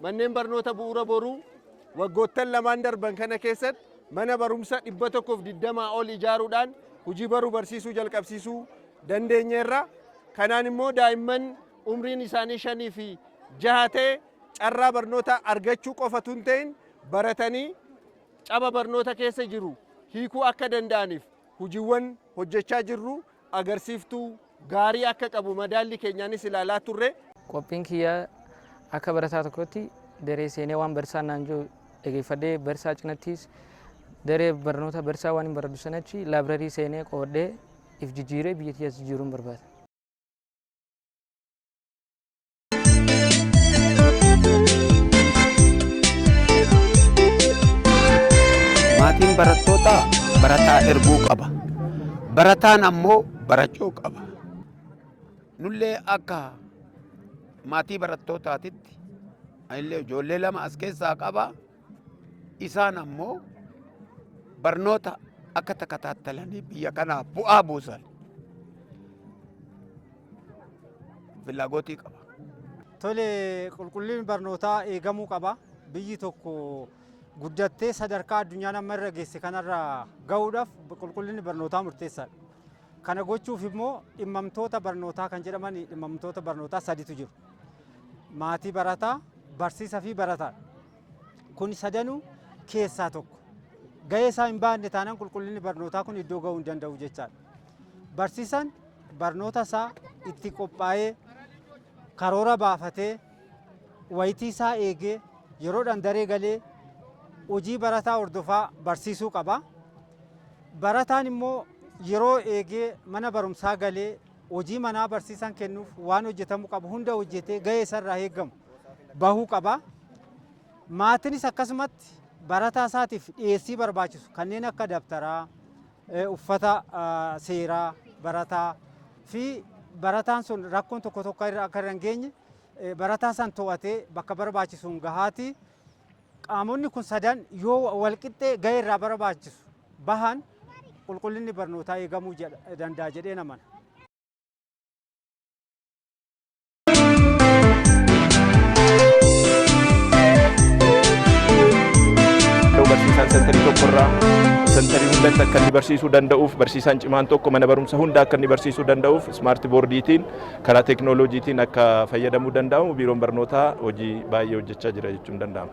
Manneen Barnoota Bu'uura Boruu waggoottan lamaan darban kana keessatti mana barumsa 120 ol ijaaruudhaan hojii baruu barsiisuu jalqabsiisuu dandeenyeerra. Kanaan immoo daa'imman umriin isaanii 5 fi 6 ta'e carraa barnoota argachuu qofa tun ta'in baratanii caba barnoota keessa jiru hiikuu akka danda'aniif hojiiwwan hojjechaa jirru. agarsiiftuu gaarii akka qabu madaallii keenyaanis ilaalaa turre. Qophiin kiyya akka barataa tokkootti daree seenee waan barsiisaan naan jiru dhageeffadhee barsiisaa cinattis daree barnoota barsiisaa waan hin baradhu sanachi laabrarii seenee qoodhee if jijjiiree biyya tiyyaas jijjiiruun barbaada. maatiin barattootaa barataa erguu qaba barataan ammoo barachuu qaba nullee akka maatii barattootaatitti anillee ijoollee lama as keessaa qaba isaan ammoo barnoota akka takataatalanii biyya kanaaf bu'aa buusan filaagotii qaba. Tole qulqullinni barnootaa eegamuu qaba. Biyyi tokko guddattee sadarkaa addunyaan amma irra geesse kanarra gahuudhaaf qulqullinni barnootaa murteessaadha. Kana gochuuf immoo dhimmamtoota barnootaa kan jedhaman dhimmamtoota barnootaa sadiitu jiru. maatii barataa, barsiisa fi barataadha. Kun sadanuu keessaa tokko. Gahee isaa hin baanne taanaan qulqullinni barnootaa kun iddoo ga'uu hin danda'u jechaadha. Barsiisaan barnoota isaa itti qophaa'ee karoora baafatee wayitii isaa eegee yeroodhaan daree galee hojii barataa hordofaa barsiisuu qaba. Barataan immoo yeroo eegee mana barumsaa galee Hojii manaa barsiisaan kennuuf waan hojjetamu qabu hunda hojjetee gahee isa irraa eegamu bahuu qaba. Maatinis akkasumatti barataa isaatiif dhiyeessii barbaachisu kanneen akka dabtaraa, uffata seeraa barataa fi barataan sun rakkoon tokko tokko akka irra hin geenye barataa san to'atee bakka barbaachisuun gahaatii Qaamonni kun sadan yoo walqixxee gahee irraa barbaachisu bahan qulqullinni barnootaa eegamuu danda'a jedheen amana. barsiisaan sentarii tokkorraa sentarii hundatti akka inni barsiisuu danda'uuf barsiisaan cimaan tokko mana barumsa hunda akka inni barsiisuu danda'uuf ismaarti boordiitiin karaa teeknooloojiitiin akka fayyadamuu danda'amu biiroon barnootaa hojii baay'ee hojjechaa jira jechuun danda'ama.